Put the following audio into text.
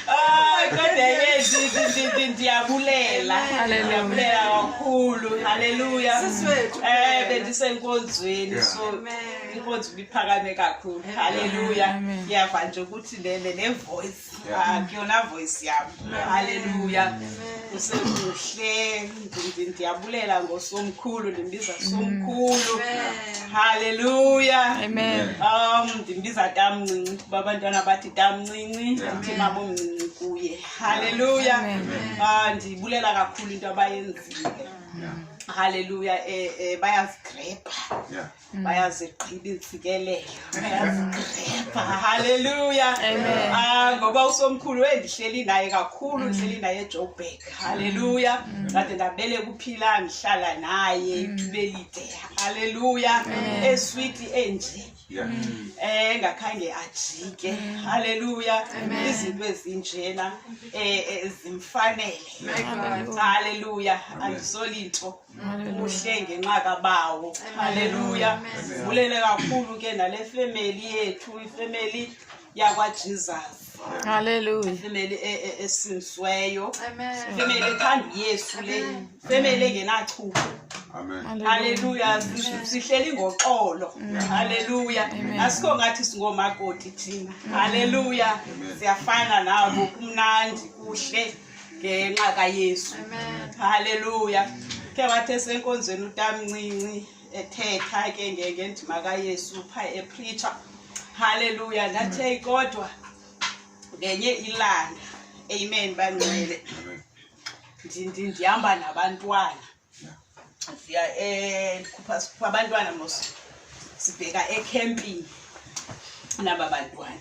Ay, kodwa yezi ndiyabulela ndiyabulela kakhulu halleluya eh bendisenkonzweni so inkonzo ibiphakame kakhulu halleluya ndiyava nje ukuthi le le voice kuyona voice yam halleluya usekuhle ndiyabulela ngosomkhulu ndimbiza somkhulu halleluya um ndimbiza tamncinci kuba abantwana bathi tamncinci ndithi mabomncinci kuye halleluya ah, ndiyibulela kakhulu into abayenzile halleluya um eh, eh, bayazigrebha Mm. bayazigqiba izikelelo bayazigrepha halleluya ah, ngoba usomkhulu endihleli naye kakhulu mm. ndihleli naye ejoburg mm. halleluya ndade ndabele kuphila ndihlala naye ithuba elide halleluya eswiti enje eh ngakhange ajike haleluya izinto ezinjena eh, eh zimfanele haleluya andisolinto kuhle ngenxa kabawo haleluya vulele kakhulu ke nale femeli yethu ifemeli yakwajesus haleluya ifemeli e, e, esinsiweyo ifemeli ethanda uyesu le ifemeli engenachupho haleluya sihleli ngoxolo haleluya asikho ngathi singoomakoti thina haleluya siyafana nabo kumnandi kuhle ngenxa kayesu halleluya khe wathi esenkonzweni utamncinci ethetha ke ngendima kayesu pha epreacher halleluya ndathi eyi kodwa ngenye ilanga amen bangcwele ndihamba nabantwana ndiya um ndikhupha sikhupha abantwana mos sibheka ekhempini naba bantwana